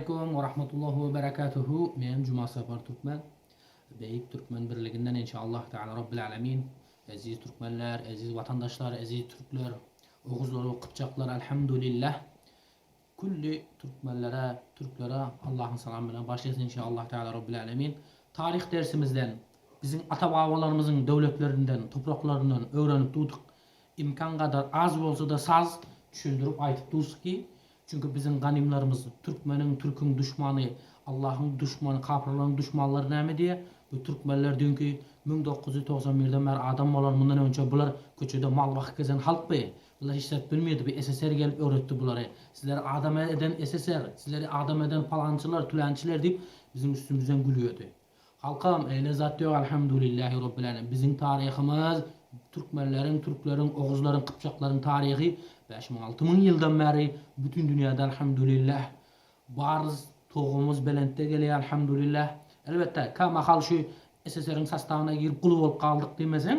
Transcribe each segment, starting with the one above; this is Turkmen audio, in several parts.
Aleýkum we rahmetullah we berekatuhu men Jumasapar Türkmen Beýik Türkmen birliginden enşallah taala Rabbil Alemin Eziz Türkmenler Eziz Watandaşlar Eziz Türkler Oguzlar we Kypjaklar Alhamdulillah Külli Türkmenlere Türklere Allahyň salamy bilen başlaýas enşallah taala Rabbil Alemin Taryh dersimizden biziň ata babalarymyzyň döwletlerinden topraklaryndan öwrenip durdyk imkan gadar az bolsada saz düşündirip aýtyp dursyky Çünki biziň ganymlarymyz türkmeniň, türküň duşmany, Allahyň duşmany, kapyrlaryň duşmanlary näme diýýär? Bu türkmenler düýnki müň dokuz ýüz togsan birden bäri adam bolar, mundan öňçe bular köçede mal bakyp gezen halkdy. Bular hiç zat bilmeýdi, bu SSR gelip öwretdi bulary. Sizleri adam eden SSR, sizleri adam eden palançylar, tülençiler diýip biziň üstümizden gülýärdi. Halkam eýle zat ýok Alhamdulillahi Rabbil Alemin biziň taryhymyz Türkmenleriň Türkleriň Oguzlaryň Kypjaklaryň taryhy bäş müň alty müň ýyldan bäri bütin dünýäde Alhamdulillah barys Tugumyz belentde gelýär Alhamdulillah Elbetde kä mahal şu SSR-iň sastawyna girip guly bolup galdyk diýmeseň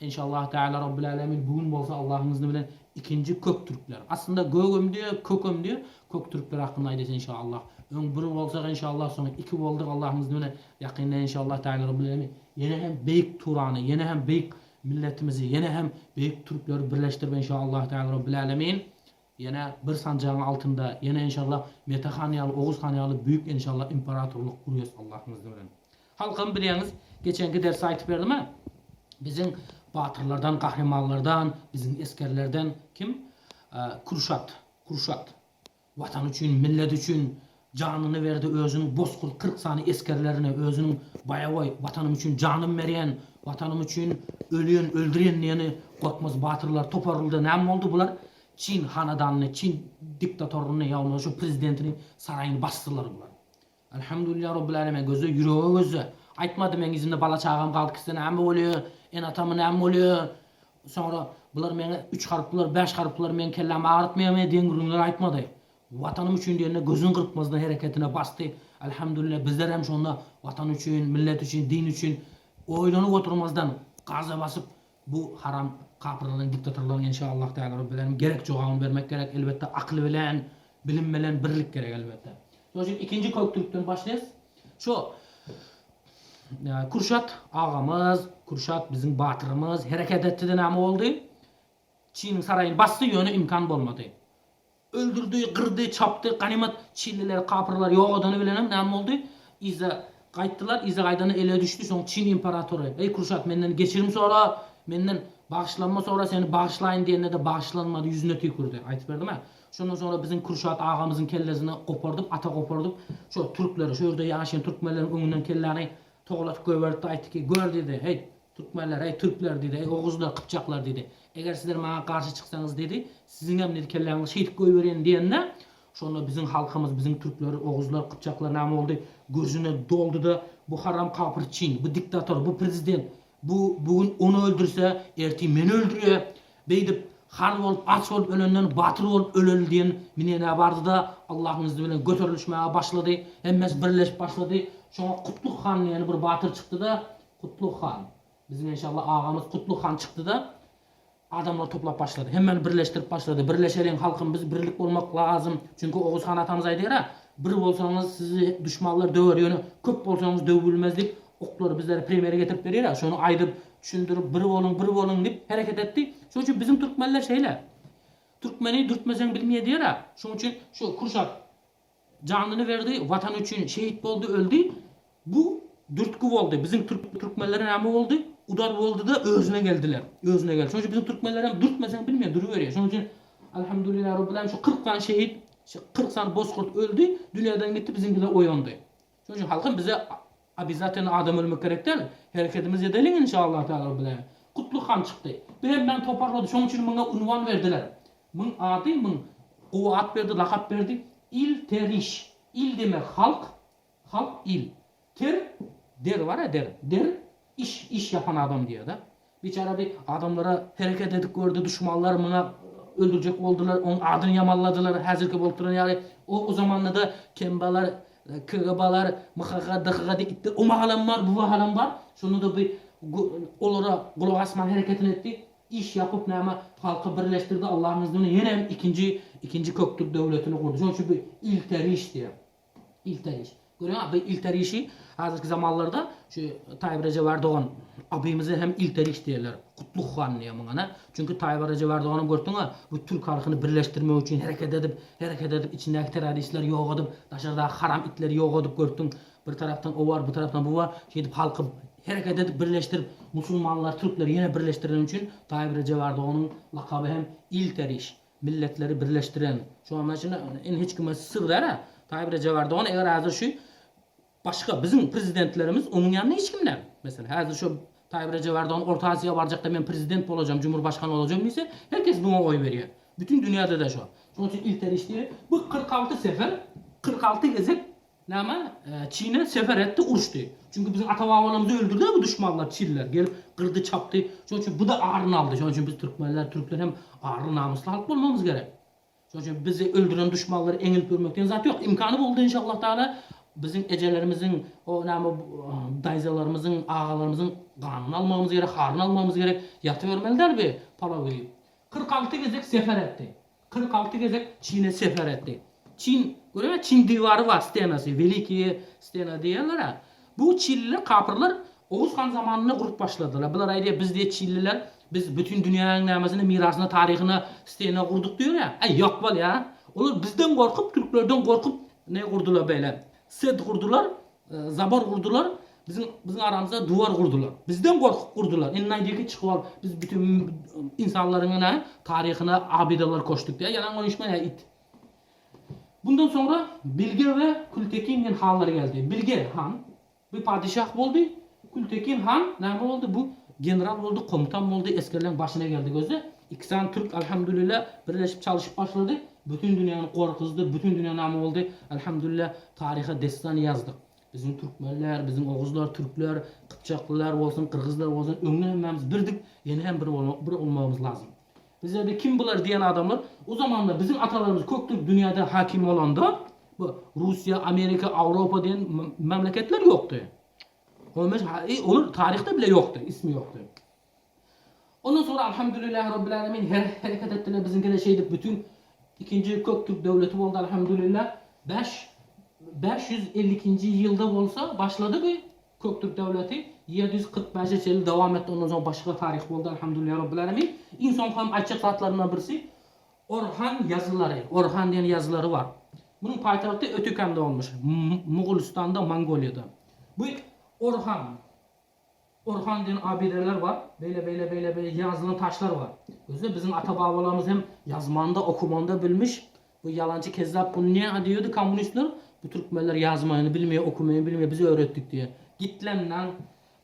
Enşallahu Teala Rabbil Alemin bu gün bolsa Allahyň yzni bilen ikinji Köktürkler, aslynda Gögem diýer, Kökem diýer, Köktürkler hakynda aýdasy enşallah. Öň bir bolsak enşallah soň iki boldyk Allahyň yzni bilen ýakynda enşallahu Teala Rabbil Alemin ýene hem beýik Turany, ýene hem beýik milletimizi, ýene hem beýik Türkleri birleşdirip enşallahu Teala Rabbil Alemin Ýene bir sanjagyň altynda ýene enşalla Mete han ýaly Oguz han ýaly büýük enşalla imperatorlyk gurýas Allahyň yzny bilen. Halkym bilýäňiz geçenki dersi aýtyp berdim a biziň batyrlardan gahrymanlardan biziň esgerlerden kim Kürşat Kürşat Watan üçin millet üçin Janyny berdi özüniň bozkurt kyrk sany esgerlerine özüniň baýabaý Watanym üçin janym berýän, Watanym üçin ölýän, öldürýän diýeni Gorkmaz batyrlar toparyldy näme boldy bular Çin hanadanyny, Çin diktatoryny ýa bolmasa şu prezidentini saraýyny basdylar bular. Alhamdulillah Robbil Aleme gözde ýürege gözde aýtmady meň yzynda bala çagam galdy kise näme bolýa ene atamy näme bolýa soňra bular meňe üç harplylar bäş harplylar meň kellämi agyrtmaýamy deň gürrüňler aýtmady Watanym üçin diýende gözüni gyrpmazdan hereketine basdy. Alhamdulillah bizler hem şonda watan üçin, millet üçin, din üçin oýlanyp oturmazdan gaza basyp bu haram kapyrlaryň diktatorlaryň enşa Allah Teala Rabbil Alemin gerek jogabyny bermek gerek elbetde akyl bilen bilim bilen birlik gerek elbetde. Şonuň üçin ikinji kök türkden başlaýas. Şu Kürşat agamyz, Kürşat biziň batyrymyz hereket etdide näme boldy? Çiniň saraýyny basdy ýöne imkan bolmady. Öldürdi, gyrdy, çapdy, ganymat çinlileri, kapyrlary ýok edeni bilenem näme boldy? Yza gaýtdylar, yza gaýdanda ele düşdi, soň çin imperatory, Eý, Kurşat, menden geçirim sora, menden bagyşlanma sora, seni bagyşlaýyn diýende-de bagyşlanmady, ýüzüne tüýkürdi. Aýdyp berdim-ä. Şondan soňra biziň Kurşat agamyzyň kellesini gopardyp, ata gopardyp, şo türkleri, şo ýerde ýaşaýan türkmenleriň öňünden kelläni togalatyp goýberipdi, aýtdy ki, gör diýdi, heý, Türkmenler, eý, türkler, diýdi, eý, oguzlar, gypjaklar, diýdi, eger sizler maňa garşy çyksaňyz, diýdi, siziňem, diýdi, kelläňizi şeýdip goýberýän diýende, şonda biziň halkymyz, biziň türkler, oguzlar, gypjaklar näme boldy, gürjüne doldy-da, bu haram kapyr çyn, bu diktator, bu prezident, bu bu gün ony öldürse, ertir meni öldürýär, beýdip, har bolup, aç bolup ölenden batyr bolup öleli diýen minenä bardy-da, Allahyň yzy bilen göterilişmäge başlady, hemmesi birleşip başlady, şoňa Kutluk han diýen bir batyr çykdy-da, Kutlug han. Biziň enşalla agamyz Kutlug han çykdyda adamlary toplap başlady. Hemmeni birleşdirip başlady. Birleşeliň halkym biz birlik bolmak lazym. Çünki Oguz han atamyz aýdýara, Bir bolsaňyz sizi duşmanlar döwer ýöne köp bolsaňyz döwüp bilmez diýip oklary bizlere premýere getirip berýara. Şony aýdyp, düşündirip bir boluň bir boluň diýip hereket etdi. Şoň üçin biziň türkmenler şeýle. Türkmeni dürtmeseň bilmeýär diýara. Şoň üçin şu Kürşat Janyny berdi Watan üçin şehit boldy öldi bu dürtgi boldy biziň türkmenlere name boldy udar boldyda özüne geldiler özüne geldi şonuň üçin biziň türkmenlerem dürtmeseň bilmeýär duruberýär şonuň üçin Alhamdulillah Robbil Alemin şu kyrk sany şehit kyrk sany bozkurt öldi dünýadan gitdi biziňkiler oýandy. Şonuň üçin halkym bize obezatelno adam ölmek gerek däl, hereketimiz edeliň inşallah taala bilen. Kutly han çykdy. Bir hem meni toparlady. Şonuň üçin maňa unwan berdiler. Muň ady muň gowy at berdi, lakap berdi. Il teriş. Il demek halk, halk il. Ter der bar-a der. Der iş, iş ýapan adam diýýär-de. Biçäre bi adamlara hereket edip gördi duşmanlar muňa öldürjek boldylar oň adyny ýamanladylar häzirki bolup duran ýaly o o zamandada kmbalar kgbalar mhga dhga diýip itde o mahalam bar bu mahalam bar şonda-da bi olara gulak asman hereketini etdi iş ýapyp näme halky birleşdirdi Allahyň yzny bilen ýene hem ikinji ikinji köktür döwletini gurdy şoň üçin bi ilteriş diýýär. Ilteriş. Görýäňiz, bu ilterişi häzirki zamanlarda şu Taýyp Rejep Erdogan abymyza hem ilteriş diýerler. Kutlug han diýýär muňa ne? Çünki Taýyp Rejep Erdoganam görseň-ä, bu türk halkyny birleşdirmek üçin hereket edip, hereket edip, içindäki terroristleri ýok edip, daşardaky haram itleri ýok edip görseň, bir tarapdan o bar, bu tarapdan bu bar, şeýdip halky hereket edip birleşdirip, musulmanlary, türkleri ýene birleşdireni üçin Taýyp Rejep Erdoganyň lakaby hem ilteriş. Milletleri birleşdiren şu anda şuna in hiç kime syr däl a taýyp rejep ardogan eger hazir şu başga biziň prezidentlerimiz onuň ýanynda hiç kim däl meselem hazir şu taýyp rejep ardogan orta aziýa barjakda men prezident bolajam cumhur başkan olajam diýse her kes buňa oý berýär bütün dünýädede şo şonuň üçin ilter iş diýeli bu kyrk alty sefer kyrk alty gezek Näme? Çine sefer etdi, uruşdy. Çünki biziň ata-babalarymyzy öldürdiler bu duşmanlar, çinler. Gelip gyrdy, çapdy. Şonuň üçin bu-da aryny aldy. Şonuň üçin biz türkmenler, türkler hem arly, namysly halk bolmagymyz gerek. Şonuň üçin bizi öldüren duşmanlary eňilip ýörmek diýen zat ýok. Imkany boldy inşallah taala biziň ejelerimiziň, o näme daýzalarymyzyň, agalarymyzyň ganyny almagymyz gerek, haryny almagymyz gerek. Ýatybermeli däl bi palaw iýip. Kyrk alty gezek sefer etdi. Kyrk alty gezek Çine sefer etdi. Çin, görüňiz, Çin diwary bar, stenasy, Welikiýe stena diýerler-ä. Bu çinliler, kapyrlar Oguz han zamanynda gurup başladylar. Bular aýdýar, biz diýýär, çinliler, biz bütin dünýäniň nämesine, mirasyna, taryhyna stena gurduk diýýär-ä. Äý, ýok bolýa. Olar bizden gorkup, türklerden gorkup ne gurdular beýle. Set gurdular, zabar gurdular, biziň biziň aramyzda duwar gurdular. Bizden gorkup gurdular. Indi aýdýar ki, çykyp al, biz bütin insanlaryň ene taryhyna abidalar koşduk diýýär. Ýalan goýuşmaýar it. Bundan soňra Bilge we Kültekin men hanlary geldi. Bilge han bu padeşah boldy. Kültekin han näme boldy? Bu general boldy, komutan boldy, esgerleriň başyna geldi gözi. Iki sany türk Alhamdulillah birleşip çalyşyp başlady bütün dünýäni gorkuzdy bütün dünýä name boldy Alhamdulillah taryha destan ýazdyk biziň türkmenler biziň oguzlar türkler kypjaklylar bolsun gyrgyzlar bolsun öňde hemmämiz birdik ýene hem bir bolmak bir olmagymyz lazym bizlerde kim bular diýen adamlar o zamanda biziň atalarymyz kök türk dünýäde hakim bolanda bu Russiýa Amerika Awropa diýen memleketler ýokdy on beş olar taryhda bile ýokdy ismi ýokdy. Ondan soňra Alhamdulillah Rabbil Alemin her hereket etdiler biziňkide şeýdip bütün ikinji kök türk döwleti boldy Alhamdulillah bäş bäş ýüz elli ikinji ýylda bolsa başlady bu kök türk döwleti ýedi ýüz kyrk bäşe çenli dowam etdi ondan soň başga taryh boldy Alhamdulillah Rabbil Alemin iň soňkam aýtjak zatlarymdan birisi Orhan ýazylary Orhan diýen ýazylary bar munuň paýtagty Ötekände bolmuş Mogulystanda Mongoliýada bu Orhan Orhan diýen abideler bar. Beýle beýle beýle beýle ýazylan taşlar bar. Gözle biziň ata babalarymyz hem ýazmanda okumanda bilmiş. Bu ýalançy kezzap bunu näme diýerdi kommunistler bu türkmenler ýazmaýyny bilmeýär okumaýyny bilmeýär biz öwretdik diýe. Git lan lan.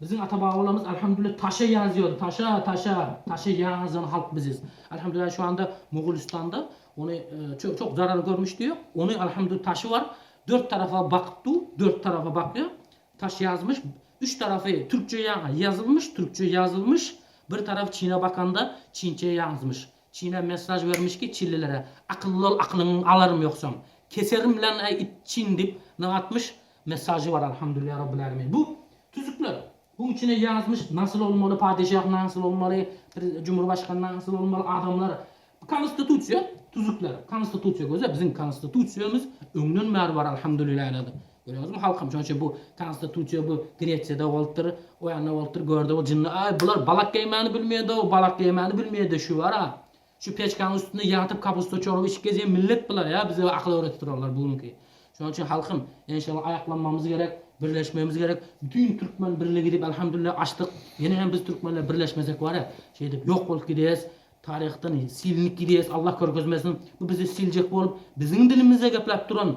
Biziň ata babalarymyz alhamdulillah taşa ýazýardy taşa taşa taşa ýazan halk biziz. Alhamdulillah şu anda mogulistanda ony ço çok zarar görmüş diýýär. Ony alhamdulillah taşy bar dört tarapa bakyp dur dört tarapa bakýar. Taş ýazmyş, üç tarapy türkçe ýaňa ýazylmyş, türkçe ýazylmyş, bir tarapy çine bakanda çinçe ýazmyş. Çine messaj bermiş ki çillilere, akylly bol akylyňy alarym ýogsam, keserim bilen äý it çin dip nyň atmyş, messajy bar Alhamdulillah Rabbil Alemin. Bu tüzükler, buň içine ýazmyş nasyl bolmaly, padeşah nasyl bolmaly, bir cumurbaşkan nasyl bolmaly, adamlar, bu konstitusiýa tüzükler, konstitusiýa göze biziň konstitusiýamyz öňden bäri bar Alhamdulillah. Görýäňizmi halkym şonça bu konstitusiýa bu Gresiýada bolupdyr, o ýanda bolupdyr görde bu jynny aý bular balak geýmäni bilmeýädo balak geýmäni bilmeýädo şu bar a şu peçkaň üstünde ýatyp kapusta çorup içip gezýän millet bular ýa bize akyl öwretip durarlar bu günki şonuň üçin halkym enşalla aýaklanmamyz gerek birleşmemiz gerek bütin türkmen birlik edip alhamdulillah açdyk ýene hem biz türkmenler birleşmesek bar ýa şeýdip ýok bolup gidýäs taryhdan silnik gidýäs Allah görkezmesin bu bizi siljek bolup biziň dilimize gepläp duran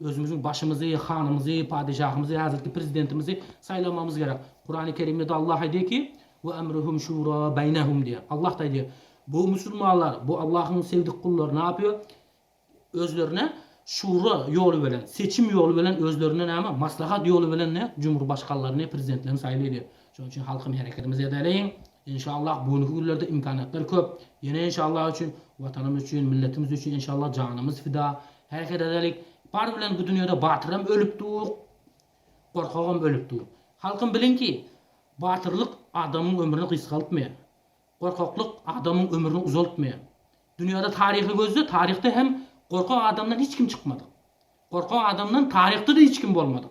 Özümiziň başymyzy, hanymyzy, padeşahymyzy, häzirki prezidentimizi saýlamagymyz gerek. Kurany Kerimde-de Allah aýdýar ki, Ve emruhum şura beýnehum diýýär. Allah-da aýdýar, Bu musulmanlar, bu Allahyň sevdik gullary näpýar? Özlerine şura ýoly bilen, seçim ýoly bilen özlerine näme, maslahat ýoly bilen ne, cumhurbaşkanlaryny, prezidentlerini saýlaýar diýýär. Şonuň üçin halkym hereketimizi edeliň. Enşallah göwnüki günlerde imkaniýetler köp. Ýene enşallah üçin, Watanymyz üçin, milletimiz üçin enşallah janymyz fida. Häzir edeli bar bilen bu dünýede batyram ölüpdug, gorkagam ölüpdug. Halkym biliň ki, batyrlyk adamyň ömrüni gysgaltmaýar, gorkaklyk adamyň ömrüni uzaltmaýar. Dünýede taryhy gözle, taryhda hem gorkak adamdan hiç kim çykmadyg. Gorkak adamdan taryhda-da hiç kim bolmadyg.